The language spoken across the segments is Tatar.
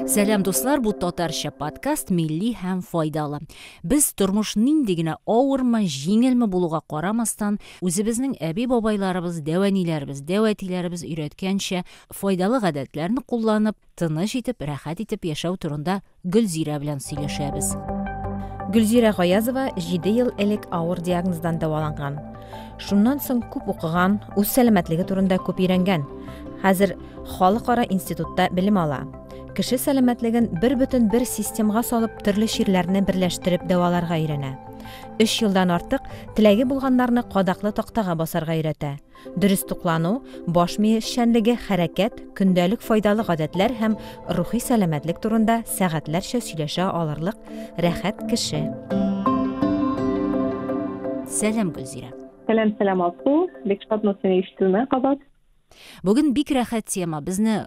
Сәлам дуслар, бу татарча подкаст милли һәм файдалы. Без тормыш нинди генә авырмы, җиңелме булуга карамастан, үзебезнең әби-бабайларыбыз, дәвәниләребез, дәвәтиләребез өйрәткәнчә файдалы гадәтләрне кулланып, тыныч итеп, рәхәт итеп яшәү турында Гөлзирә белән сөйләшәбез. Гөлзирә Гаязова 7 ел элек авыр диагноздан дәваланган. Шуннан соң күп укыган, үз сәламәтлеге турында күп өйрәнгән. Хәзер халыкара институтта белем ала. Кеше сәламәтлеген бер бөтен бер системга салып, төрле чирләрне берләштереп дәваларга өйрәнә. Өч елдан артык теләге булганнарны кадаклы тактага басарга өйрәтә. Дөрес туклану, баш мие эшчәнлеге, хәрәкәт, көндәлек файдалы гадәтләр һәм рухи сәламәтлек турында сәгатьләрчә сөйләшә алырлык рәхәт кеше. Сәлам, Гөлзирә. Сәлам, сәлам, Алсу. Бик шатмын сине ишетүемә кабат. Бүген бик рәхәт тема. Безне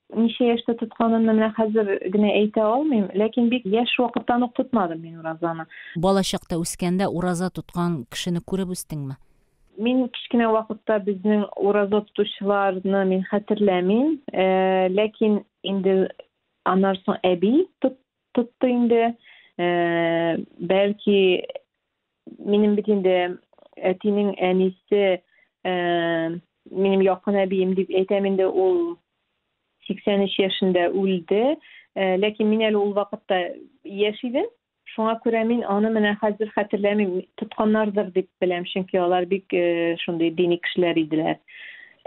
Ничә яшьтә тотканымны менә хәзер генә әйтә алмыйм, ләкин бик яшь вакыттан ук тотмадым мин уразаны. Балачакта үскәндә ураза тоткан кешене күреп үстеңме? Мин кечкенә вакытта безнең ураза тотучыларны мин хәтерләмим, ләкин инде аннан соң әби тотты инде, бәлки Минем бит инде әтинең әнисе, ә, минем якын әбием дип әйтәм инде, ул 83 яшендә үлде. Ә, ләкин мин әле ул вакытта яшь идем. Шуңа күрә мин аны менә хәзер хәтерләмим, тотканнардыр дип беләм, чөнки алар бик э, шундый дини кешеләр иделәр.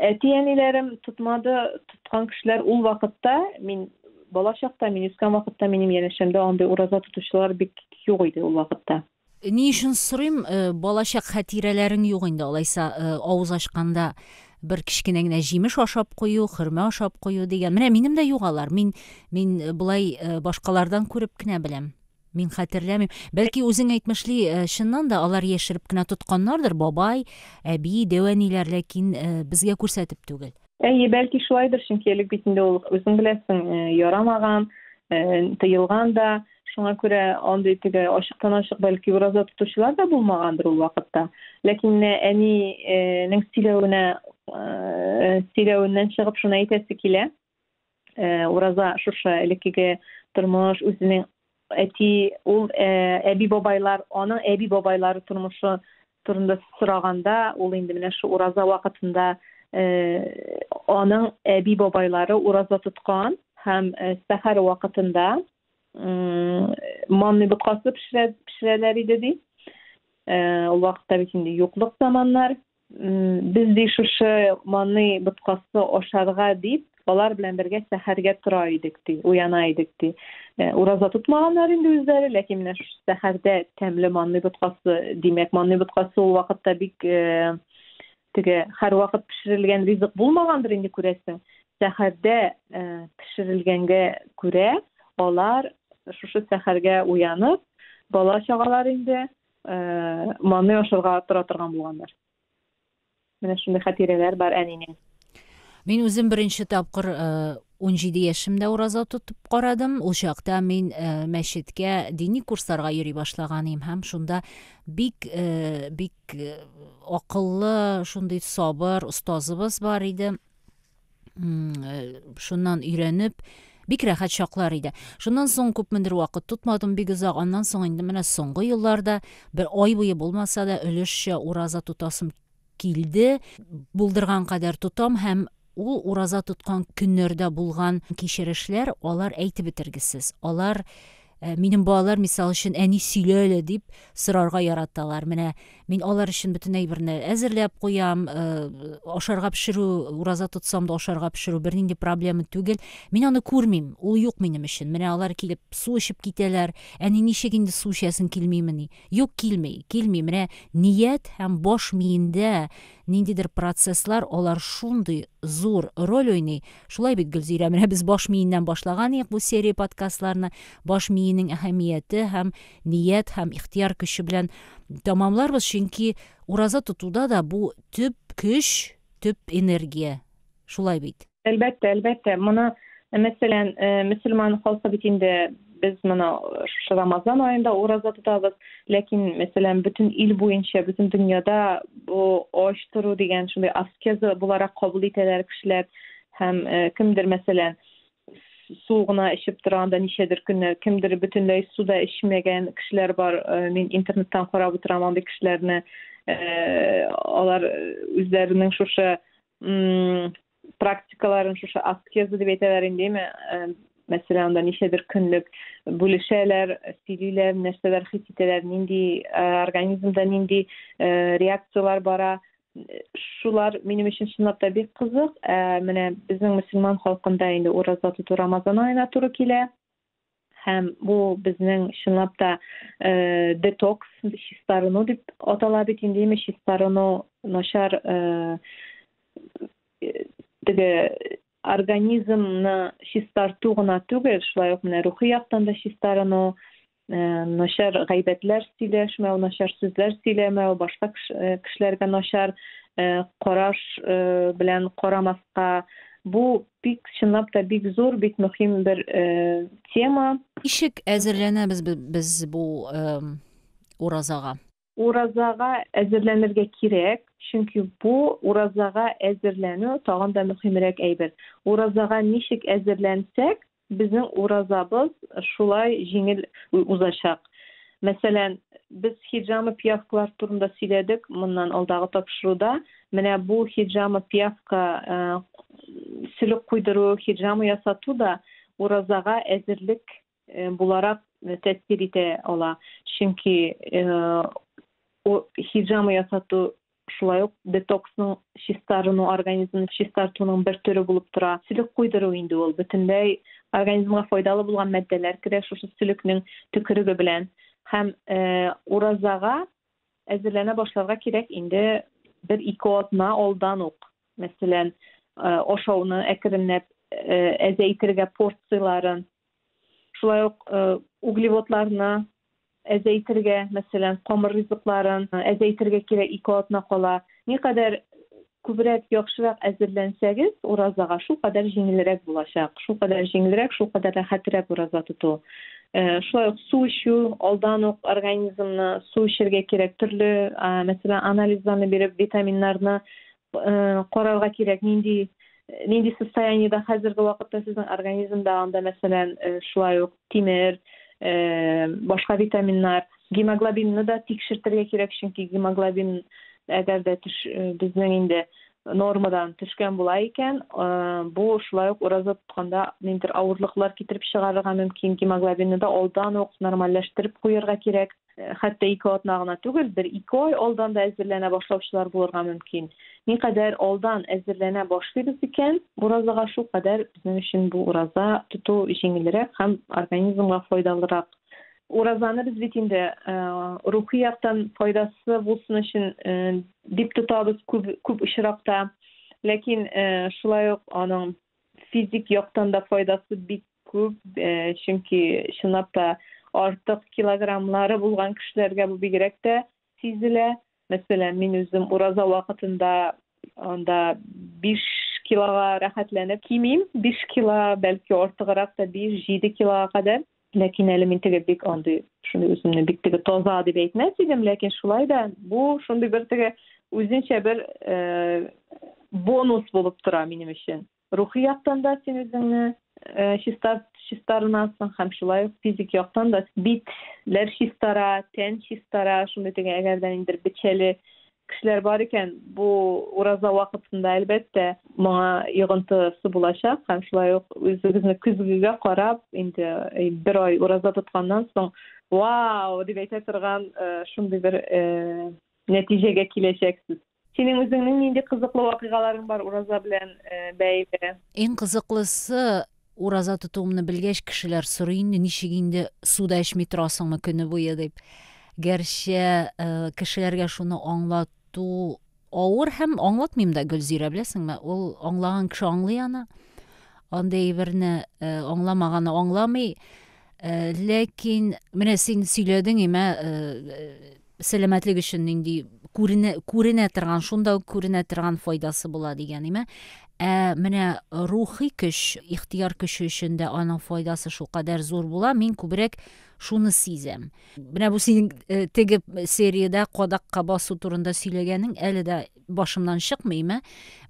Әти-әниләрем тотмады, тоткан кешеләр ул вакытта, мин бала чакта, мин үскән вакытта минем янәшәмдә андый ураза тотучылар бик юк иде ул вакытта. Ни өчен сорыйм, балачак хәтирәләрең юк инде, алайса, авыз ачканда бер кечкенә генә җимеш ашап кую, хөрмә ашап кую дигән. Менә минем дә юк алар. Мин, мин болай башкалардан күреп кенә беләм. Мин хәтерләмим. Бәлки үзең әйтмешли, чыннан да алар яшереп кенә тотканнардыр, бабай, әби, дәү әниләр, ләкин безгә күрсәтеп түгел. Әйе, бәлки шулайдыр, чөнки элек бит инде ул үзең беләсең, э, ярамаган, э, тыелган да. Шуңа күрә андый теге ачыктан-ачык бәлки ураза тотучылар да булмагандыр ул вакытта. Ләкин менә әнинең э, сөйләвенә, э, сөйләвеннән чыгып шуны әйтәсе килә. Э, ураза шушы элеккеге тормыш үзенең әти ул э, әби бабайлар аның әби бабайлары тормышы турында сораганда ул инде менә шу ураза вакытында э, аның әби бабайлары ураза тоткан һәм сәхәр вакытында манный боткасы пешерәләр иде ди ул вакытта бит инде юклык заманнар Без ди шушы маный боткасы ашарга дип, алар белән бергә сәхәргә тора идек ди, уяна идек ди. Э, ураза тотмаганнар инде үзләре, ләкин менә шушы сәхәрдә тәмле манный боткасы, димәк, манный боткасы ул вакытта бик э, теге һәрвакыт пешерелгән ризык булмагандыр инде күрәсең. Сәхәрдә э, пешерелгәнгә күрә, алар шушы сәхәргә уянып, бала чагалар инде, Э, маны ашырга тора торган булганнар менә шундый хатирәләр бар әнинең мин үзем беренче тапкыр э, унҗиде яшемдә ураза тотып карадым ул чакта мин э, мәчеткә дини курсларга йөри башлаган идем һәм шунда бик бик акыллы шундый сабыр остазыбыз бар иде э, шуннан өйрәнеп бик рәхәт чаклар иде шуннан соң күпмедер вакыт тотмадым бик озак аннан соң инде менә соңгы елларда бер ай буе булмаса да өлешчә ураза тотасым килде булдырган кадәр тотам һәм ул ураза тоткан көннәрдә булган кичерешләр алар әйтеп бетергесез алар Ә, минем балалар, мисал өчен, әни сөйлә әле дип сорарга яраталар. Менә мин алар өчен бөтен әйберне әзерләп куям, э, ашарга пешерү, ураза тотсам да ашарга пешерү бернинди проблема түгел. Мин аны күрмим, ул юк минем өчен. Менә алар килеп су эчеп китәләр. Әни ничек инде су эчәсең килмимени? Юк, килми, килми. Менә ният һәм баш миендә Ниндидер процесслар алар шундый зур роль уйный. Шулай бит, Гөлзирә, менә без баш миеннән башлаган идек бу серия подкастларны. Баш миенең әһәмияте һәм ният һәм ихтияр көче белән тәмамларбыз, чөнки ураза тотуда да бу төп көч, төп энергия. Шулай бит. Әлбәттә, әлбәттә. Моны, мәсәлән, э, мөселман халкы бит инде без моны шушы Рамазан аенда ураза тотабыз, ләкин, мәсәлән, бөтен ил буенча, бөтен дөньяда бу ач тору дигән шундый аскеза буларак кабул итәләр кешеләр һәм э, кемдер, мәсәлән, су гына эчеп тора анда ничәдер көннәр, кемдер бөтенләй су да эчмәгән кешеләр бар. Э, мин интернеттан карап утырам андый кешеләрне. Э, алар үзләренең шушы практикаларын шушы аскеза дип әйтәләр инде әйме мәсәлән анда ничәдер көнлек бүлешәләр сөйлиләр нәрсәләр хис итәләр нинди организмда нинди реакцияләр бара шулар минем өчен чынлап та бик кызык ә менә безнең мөселман халкында инде ураза тоту рамазан аена туры килә һәм бу безнең чынлап та э, детокс чистарыну дип атала бит инде имеш чистарыну начар э, теге организмны чистарту гына түгел шулай ук менә рухи яктан да чистарыну э, начар гайбәтләр сөйләшмәү начар сүзләр сөйләмәү башка э, кешеләргә начар э, караш э, белән карамаска бу Бик чынлап та бик зур, бик мөхим бер тема. Ничек әзерләнәбез без бу уразага? Уразага әзерләнергә кирәк, чөнки бу уразага әзерләнү тагын да мөхимрәк әйбер. Уразага ничек әзерләнсәк, безнең уразабыз шулай җиңел узачак. Мәсәлән, без хиҗама пиявкалар турында сөйләдек моннан алдагы тапшыруда. Менә бу хиджама пиявка э, сөлек куйдыру, хиджама ясату да уразага әзерлек э, буларак э, тәэсир итә ала. Чөнки хиджама ясату шулай ук детоксның чистарыну, организмны чистартуның бер төре булып тора. Сөлек куйдыру инде ул бөтенләй организмга файдалы булган матдәләр керә шушы сөлекнең төкереге белән һәм уразага әзерләнә башларга кирәк инде бер ике атна алдан ук мәсәлән ашауны әкренләп әзәйтергә порцияләрен шулай ук углеводларны әзәйтергә мәсәлән камыр ризыкларын әзәйтергә кирәк ике атна кала никадәр Күбрәк, яхшырак әзерләнсәгез, уразага, шулкадәр җиңелрәк булачак. Шулкадәр җиңелрәк, шулкадәр рәхәтрәк ураза тоту. Шулай ук су эчү, алдан ук организмны су эчәргә кирәк. Төрле, мәсәлән, анализларны биреп, витаминнарны карарга кирәк, нинди нинди состояниедә хәзерге вакытта сезнең организмда, анда, мәсәлән, шулай ук тимер, башка витаминнар, гемоглобинны да тикшертергә кирәк, чөнки гемоглобин әгәр дә төш безнең инде нормадан төшкән була икән, бу шулай ук ураза тотканда ниндидер авырлыклар китереп чыгарырга мөмкин. Гемоглобинны да алдан ук нормальләштереп куярга кирәк. Э, хәтта ике атна гына түгел бер ике ай алдан да әзерләнә башлаучылар булырга мөмкин никадәр алдан әзерләнә башлыйбыз икән уразага шулкадәр безнең өчен бу ураза тоту җиңелрәк һәм организмга файдалырак уразаны без бит инде э, рухи яктан файдасы булсын өчен э, дип тотабыз күп күп очракта ләкин шулай ук аның физик яктан да файдасы бик Күп, чөнки чынлап та артык килограммлары булган кешеләргә бу бигрәк тә сизелә. Мәсәлән, мин үзем ураза вакытында анда 5 килога рәхәтләнеп кимим, 5 кило, бәлки артыграк та 5-7 килога кадәр. Ләкин әле мин теге бик андый, шундый үземне бик теге таза дип әйтмәс идем, ләкин шулай да бу шундый бер теге үзенчә бер бонус булып тора минем өчен. Рухи яктан да син үзеңне э, чиста чистарынасың һәм шулай ук физик яктан да битләр чистара, тән чистара, шундый теге әгәр дә ниндидер бичәле кешеләр бар икән, бу ураза вакытында әлбәттә моңа йогынтысы булачак һәм шулай ук үзегезне көзгегә карап, инде э, бер ай ураза тотканнан соң, вау, дип әйтә торган э, шундый бер э, нәтиҗәгә киләчәксез. Синең үзеңнең нинди кызыклы вакыйгаларың бар ураза белән бәйле? Иң кызыклысы, ураза тотуымны белгәч, кешеләр сорый инде, ничек инде су да эчми торасыңмы көне буе дип. Гәрчә кешеләргә шуны аңлату авыр һәм аңлатмыйм да Гөлзирә, беләсеңме? Ул аңлаган кеше аңлый аны. Андый әйберне аңламаганы аңламый. Ләкин менә син сөйләдең имә сәламәтлек өчен нинди күренә, күренә торган, шунда ук күренә торган файдасы була дигән име. Ә менә рухи көч, ихтияр көче өчен дә аның файдасы шулкадәр зур була. Мин күбрәк шуны сизәм. Менә бу синең э, теге сериядә кадакка басу турында сөйләгәнең әле дә башымнан чыкмыймы?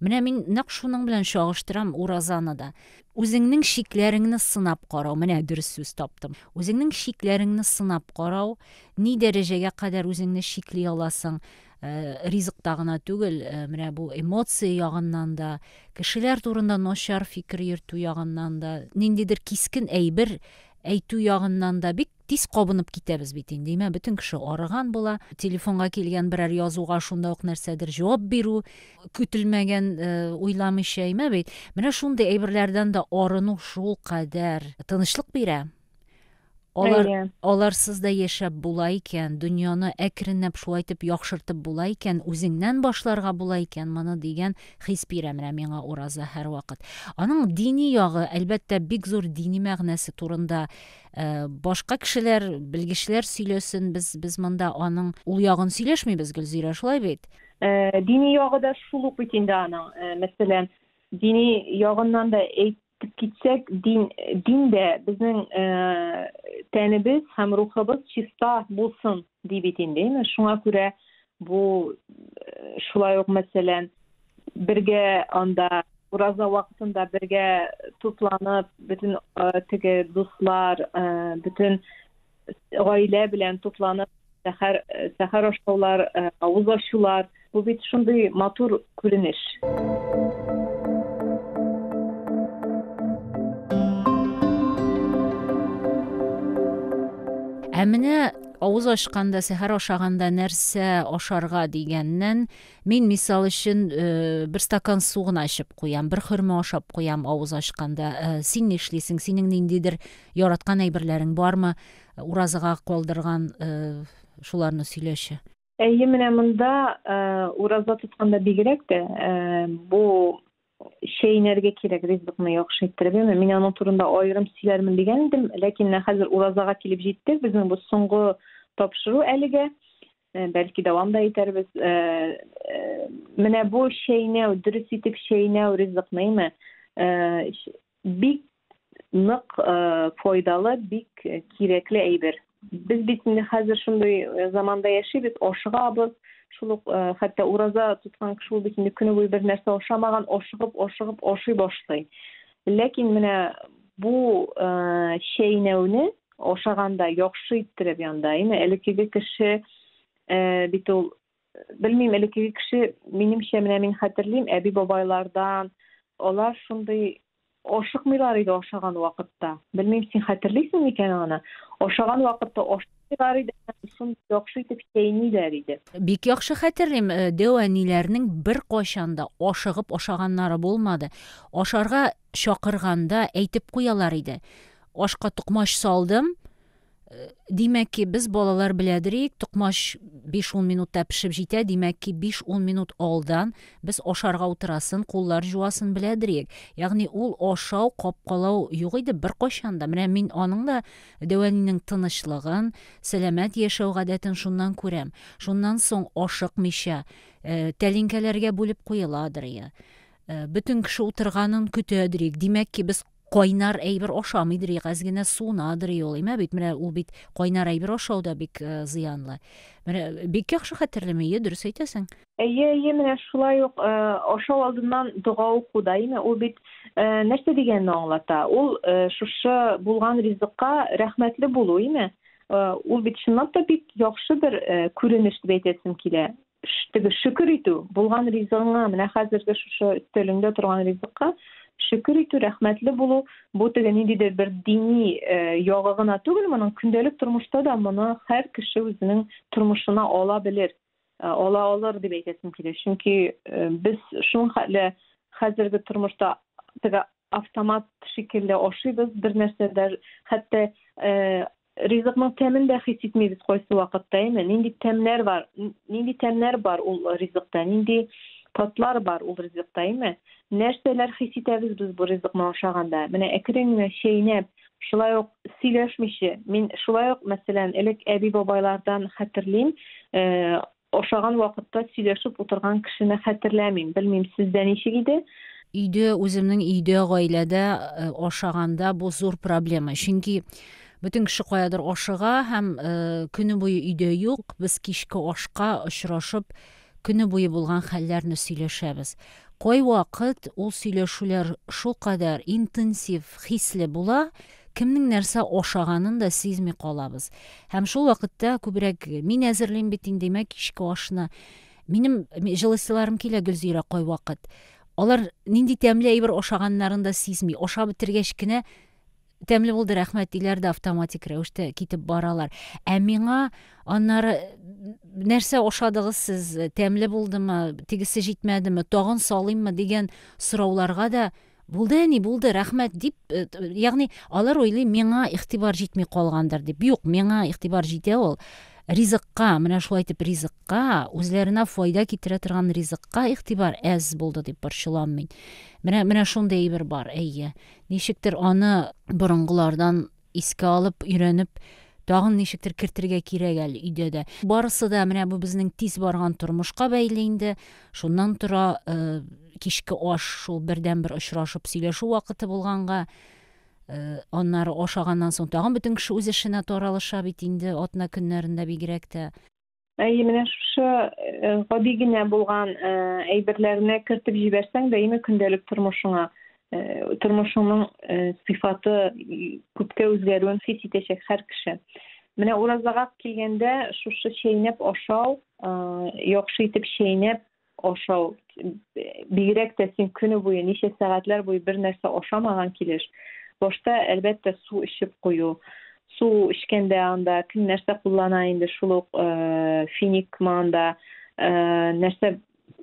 Менә мин нәкъ шуның белән чагыштырам уразаны да. Үзеңнең чикләреңне сынап карау, менә дөрес сүз таптым. Үзеңнең чикләреңне сынап карау, ни дәрәҗәгә кадәр үзеңне чикли аласың, ризыкта гына түгел, менә бу эмоция ягыннан да, кешеләр турында начар фикер йөртү ягыннан да, ниндидер кискен әйбер әйтү ягыннан да бик Тиз кабынып китәбез бит инде, имә бөтен кеше арыган була, телефонга килгән берәр язуга шунда ук нәрсәдер җавап бирү, көтелмәгән, э, уйламыйча, имә бит. Менә шундый әйберләрдән дә арыну шул кадәр тынычлык бирә. Алар, Әйе. аларсыз да яшәп була икән, дөньяны әкренләп шулай итеп яхшыртып була икән, үзеңнән башларга була икән моны дигән хис бирә менә миңа ураза һәрвакыт. Аның дини ягы, әлбәттә, бик зур дини мәгънәсе турында Э, башка кешеләр белгечләр сөйләсен без без монда аның ул ягын сөйләшмибез гөлзирә шулай бит э, дини ягы да шул ук бит инде аның э, мәсәлән дини ягыннан да әйтеп китсәк дин дин дә безнең тәнебез һәм рухыбыз чиста булсын ди бит инде шуңа күрә Бу шулай ук, мәсәлән, бергә анда ураза вакытында бергә тупланып, бөтен теге дуслар, бөтен гаилә белән тупланып, сәхәр сәхәр ашаулар, авыз ачулар, бу бит шундый матур күренеш. Ә менә Авыз ачканда, сәхәр ашаганда нәрсә ашарга дигәннән, мин мисал өчен э, бер стакан су гына эчеп куям, бер хөрмә ашап куям авыз ачканда. Э, син ни эшлисең? Синең ниндидер яраткан әйберләрең бармы? Уразага калдырган э, шуларны сөйләшә. Әйе, менә монда ураза тотканда бигрәк тә бу чәйнәргә кирәк ризыкны яхшы иттереп. Яме, мин аның турында аерым сөйләрмен дигән идем, ләкин менә хәзер уразага килеп җиттек. Безнең бу соңгы тапшыру әлегә. Э, бәлки дәвам да итәрбез. Э, э, менә бу чәйнәү, дөрес итеп чәйнәү ризыкны, яме, Бик нык файдалы, бик кирәкле әйбер. Без бит инде хәзер шундый заманда яшибез, ашыгабыз, шул ук хәтта ураза тоткан кеше ул бит инде көне буе бер нәрсә ашамаган, ашыгып, ашыгып ашый башлый. Ләкин менә бу чәйнәүне ашаганда яхшы иттереп янда, әйме, элекеге кеше бит ул белмим элеккеге кеше минемчә менә мин хәтерлим әби бабайлардан алар шундый ашыкмыйлар иде ашаган вакытта белмим син хәтерлисең микән аны ашаган вакытта ашыйлар иде шундый яхшы итеп чәйниләр иде бик яхшы хәтерлим э, дәү әниләрнең бер кайчанда ашыгып ашаганнары булмады ашарга чакырганда әйтеп куялар иде ашка токмач салдым Э, димәк ки, без балалар беләдерик, токмач 5-10 минутта пешеп җитә, димәк ки, 5-10 минут алдан без ашарга утырасын, куллар җуасын беләдерик. Ягъни ул ашау, капкалау юк иде беркайчан да. Менә мин аның да Дәвәнинең тынычлыгын, сәламәт яшәү гадәтен шуннан күрәм. Шуннан соң ашыкмыйча, э, тәлинкәләргә бүлеп куеладыр я. Э, бөтен кеше утырганын көтәдерик. Димәк ки, без кайнар әйбер ашамыйдыр ик, әз генә суынадыр и ул. Имә бит, менә ул бит кайнар әйбер ашау да бик э, зыянлы. Менә бик яхшы хәтерлим, әйе, дөрес әйтәсең. Әйе, әйе, менә шулай ук э, ашау алдыннан дога уку да, имә ул бит э, нәрсә дигәнне аңлата? Ул э, шушы булган ризыкка рәхмәтле булу, имә. Э, ул бит чынлап та бик яхшы бер э, күренеш дип әйтәсем килә. теге шөкер итү булган ризыгыңа менә хәзерге шушы өстәлеңдә торган ризыкка шөкер итү рәхмәтле булу бу теге ниндидер бер дини э, ягы гына түгел моның көндәлек тормышта да моны һәр кеше үзенең тормышына ала белер э, ала алыр дип әйтәсем килә чөнки э, без шул хәтле хәзерге тормышта теге автомат шикелле ашыйбыз бер нәрсәдә хәтта Ризыкның тәмен дә хис итмибез кайсы вакытта, әйме? Нинди тәмнәр бар, нинди тәмнәр бар ул ризыкта, нинди татлар бар ул ризыкта, әйме? Нәрсәләр хис итәбез без бу ризыкны ашаганда? Менә әкрен генә чәйнәп, шулай ук сөйләшмичә, мин шулай ук, мәсәлән, элек әби-бабайлардан хәтерлим, э, Ашаган вакытта сөйләшеп утырган кешене хәтерләмим. Белмим, сездә ничек иде? Өйдә, үземнең өйдә, гаиләдә э, ашаганда бу зур проблема. Чөнки бөтен кеше каядыр ашыга һәм э, көне буе өйдә юк. Без кичке ашка очрашып, көне буе булган хәлләрне сөйләшәбез. Кайвакыт ул сөйләшүләр шулкадәр интенсив, хисле була, кемнең нәрсә ашаганын да сизми калабыз. Һәм шул вакытта күбрәк мин әзерлим бит инде имә кичке ашны. Минем җылысыларым килә Гөлзирә кайвакыт. Алар нинди тәмле әйбер ашаганнарын да сизми. Аша бетергәч кенә тәмле булды рәхмәт диләр дә автоматик рәвештә китеп баралар ә миңа аннары нәрсә ашадыгыз сез тәмле булдымы тегесе җитмәдеме тагын салыйммы дигән сорауларга да Булды, әни, булды, рәхмәт, дип, э, ягъни алар уйлый, миңа игътибар җитми калгандыр дип. Юк, миңа игътибар җитә ул. Ризыкка, менә шулай итеп ризыкка, үзләренә файда китерә торган ризыкка игътибар әз булды дип борчылам мин. Менә менә шундый әйбер бар, әйе. Ничектер аны борынгылардан Искә алып, өйрәнеп, тагын ничектер кертергә кирәк әле өйдә дә. Барысы да менә бу безнең тиз барган тормышка бәйле инде. Шуннан тора, э, кичке аш шул бердәнбер очрашып сөйләшү вакыты булганга, э, аннары ашаганнан соң тагын бөтен кеше үз эшенә таралыша бит инде, атна көннәрендә бигрәк тә. Әйе, менә шушы э, гади генә булган э, әйберләрне кертеп җибәрсәң, даими көндәлек тормышыңа э, тормышыңның сыйфаты күпкә үзгәрүен хис итәчәк һәр кеше. Менә уразага килгәндә шушы чәйнәп ашау, яхшы итеп чәйнәп, ашау бигрәк тә син көне буе ничә сәгатьләр буе бер нәрсә ашамаган килеш башта әлбәттә су эчеп кую су эчкәндә анда кем нәрсә куллана инде шул ук э, финик анда э, нәрсә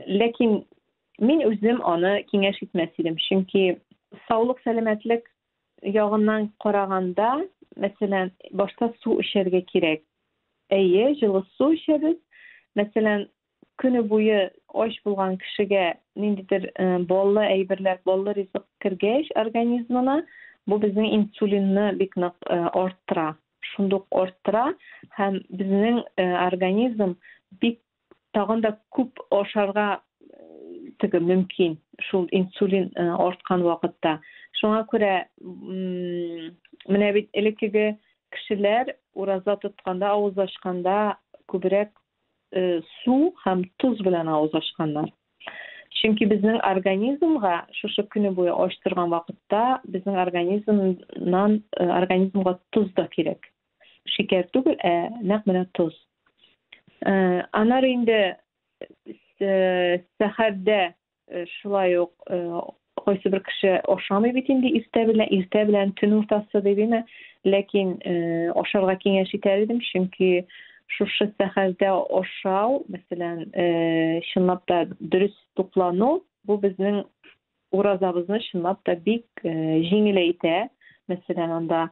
ләкин мин үзем аны киңәш итмәс идем чөнки саулык сәламәтлек ягыннан караганда мәсәлән башта су эчәргә кирәк әйе җылы су эчәбез мәсәлән көне буе ач булган кешегә ниндидер баллы әйберләр, баллы ризык кергәч организмына, бу безнең инсулинны бик нык арттыра. Шундук арттыра һәм безнең организм бик тагын да күп ашарга теге мөмкин шул инсулин арткан вакытта. Шуңа күрә менә бит элеккеге кешеләр ураза тотканда, авыз ачканда күбрәк су һәм тоз белән авыз ачканнар. Чөнки безнең организмга шушы көне буе ач торган вакытта безнең организмнан э, организмга тоз да кирәк. Шикәр түгел, ә нәкъ менә тоз. Э, анар инде э, сәхәрдә Э, шулай ук э, кайсы бер кеше ашамый бит инде иртә белән иртә белән төн уртасы дип име ләкин э, ашарга киңәш итәр идем чөнки шушы сәхәрдә ашау мәсәлән чынлап та дөрес туклану бу безнең уразабызны чынлап та бик җиңеләйтә мәсәлән анда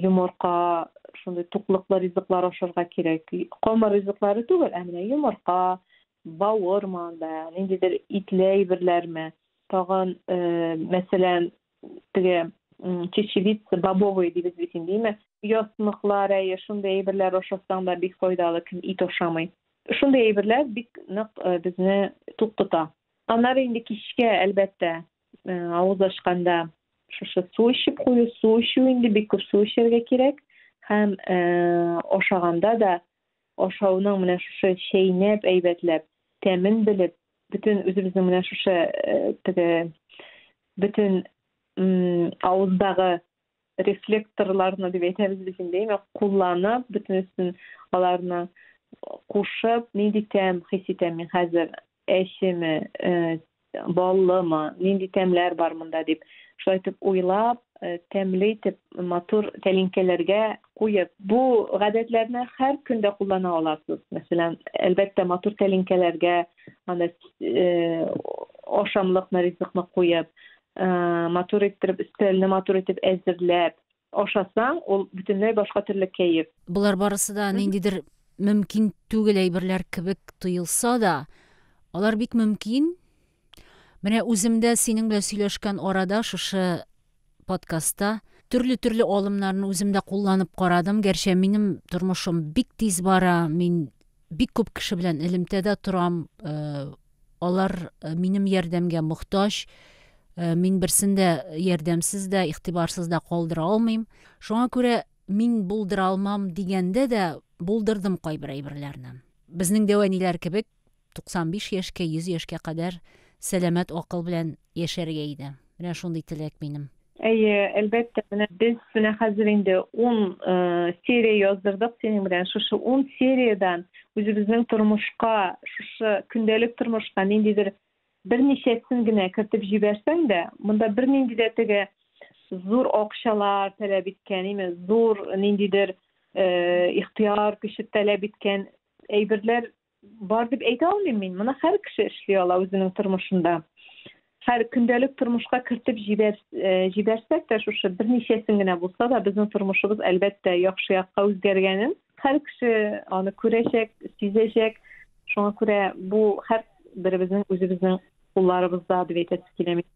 йомырка шундый туклыклы ризыклар ашарга кирәк камыр ризыклары түгел ә менә йомырка бавырмы, да, ниндидер итле әйберләрме, тагын, мәсәлән, теге чечевица, бобовые дибез бит инде, име, ясмыклар, әйе, шундый әйберләр ашасаң да бик файдалы, кем ит ашамый. Шундый әйберләр бик нык безне тук тота. Аннары инде кичкә, әлбәттә, авыз ачканда шушы су эчеп кую, су эчү инде бик күп су эчәргә кирәк һәм ашаганда да ашауның менә шушы чәйнәп әйбәтләп тәмен белеп бөтен үзебезнең менә шушы э, теге бөтен авыздагы рефлекторларны дип әйтәбез без инде яме кулланып бөтенесен аларны кушып нинди тәм хис итәм мин хәзер әчеме, баллымы, нинди тәмләр бар монда дип, шулай итеп уйлап, тәмле итеп матур тәлинкәләргә куеп, бу гадәтләрне һәр көндә куллана аласыз. Мәсәлән, әлбәттә, матур тәлинкәләргә аны ашамлыкны, ризыкны куеп, матур иттереп, өстәлне матур итеп әзерләп, Ашасаң, ул бөтенләй башка төрле кәеф. Болар барысы да ниндидер мөмкин түгел әйберләр кебек тоелса да, алар бик мөмкин. Менә үзем дә синең белән сөйләшкән арада шушы подкастта төрле-төрле алымнарны үзем дә кулланып карадым. Гәрчә минем тормышым бик тиз бара, мин Бик күп кеше белән элемтәдә торам. Алар минем ярдәмгә мохтаҗ. Мин берсен дә ярдәмсез дә, игътибарсыз да калдыра алмыйм. Шуңа күрә мин булдыра алмам дигәндә дә булдырдым кайбер әйберләрне. Безнең дәвәниләр кебек 95 яшькә, 100 яшькә кадәр сәламәт акыл белән яшәргә иде. Менә шундый теләк минем. Әйе, әлбәттә, менә без менә хәзер инде ун серия яздырдык синең белән. Шушы ун сериядән үзебезнең тормышка, шушы көндәлек тормышка ниндидер берничәсен генә кертеп җибәрсәң дә, монда бернинди дә теге зур акчалар таләп иткән, име, зур ниндидер ихтыяр көче таләп иткән әйберләр Бар дип әйтә алмыйм мин. Моны һәр кеше эшли ала үзенең тормышында. Һәр көндәлек тормышка кертеп җибәр, э, җибәрсәк тә шушы берничәсен генә булса да безнең тормышыбыз әлбәттә яхшы якка үзгәргәнен һәр кеше аны күрәчәк, сизәчәк. Шуңа күрә бу һәр беребезнең үзебезнең кулларыбызда дип әйтәсе килә мин.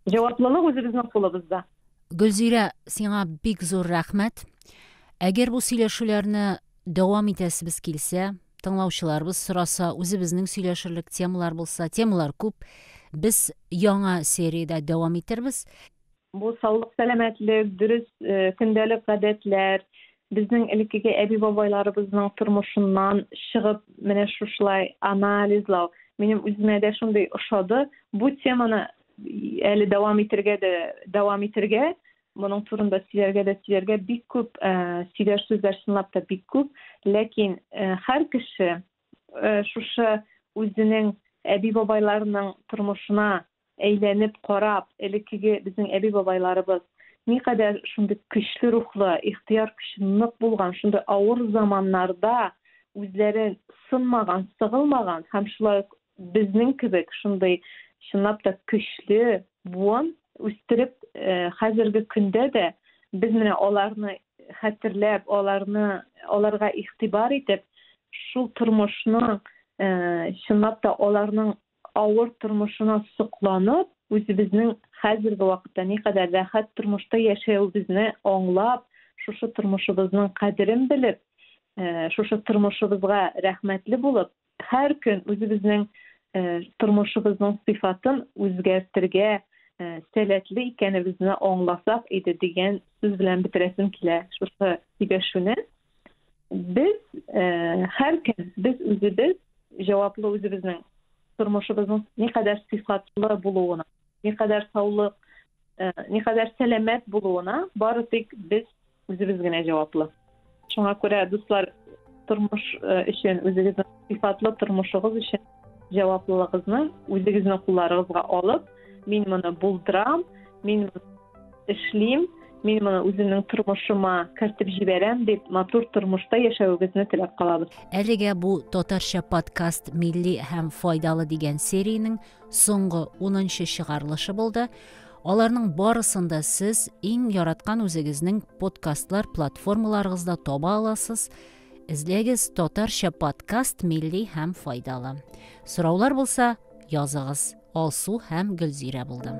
Җаваплылык үзебезнең кулыбызда. Гөлзирә, сиңа бик зур рәхмәт. Әгәр бу сөйләшүләрне дәвам итәсебез килсә, тыңлаучыларыбыз сораса, үзебезнең сөйләшерлек темалар булса, темалар күп. Без яңа сериядә дәвам итербез. Бу саулык, сәламәтлек, дөрес э, көндәлек гадәтләр, Безнең элеккеге әби-бабайларыбызның тормышыннан чыгып, менә шушылай анализлау минем үземә дә шундый ошады. Бу теманы әле дәвам итергә дә дәвам итергә, моның турында сөйләргә дә сөйләргә бик күп э, сөйләр сүзләр чынлап та бик күп. Ләкин э, һәр кеше э, шушы үзенең әби-бабайларының тормышына Әйләнеп карап, элеккеге безнең әби-бабайларыбыз никадәр шундый көчле рухлы, ихтыяр көче нык булган, шундый авыр заманнарда үзләре сынмаган, сыгылмаган һәм шулай ук безнең кебек шундый чынлап та көчле буын үстереп, хәзерге көндә дә без менә аларны хәтерләп, аларны, аларга игътибар итеп, шул тормышның, чынлап та аларның авыр тормышына сокланып, үзебезнең хәзерге вакытта никадәр рәхәт тормышта яшәвебезне аңлап, шушы тормышыбызның кадерен белеп, э, шушы тормышыбызга рәхмәтле булып, һәр көн үзебезнең э, тормышыбызның сыйфатын үзгәртергә э, сәләтле икәнебезне аңласак иде дигән сүз белән бетерәсем килә шушы сөйләшүне. Без һәркем без үзебез җаваплы үзебезнең тормышыбызның никадәр сыйфатлы булуына, никадәр саулык, никадәр сәламәт булуына бары тик без үзебез генә җаваплы. Шуңа күрә, дуслар, тормыш өчен, үзегезнең сыйфатлы тормышыгыз өчен Җаваплылыгызны үзегезнең кулларыгызга алып, мин моны булдырам, мин эшлим, мин моны үземнең тормышыма кертеп җибәрәм дип, матур тормышта яшәвегезне теләп калабыз. Әлегә бу татарча подкаст милли һәм файдалы дигән сериянең соңгы 10 чыгарылышы булды. Аларның барысын да сез иң яраткан үзегезнең подкастлар платформаларыгызда таба аласыз Эзләгез татарча подкаст милли һәм файдалы. Сораулар булса, языгыз. Алсу һәм Гөлзирә булдым.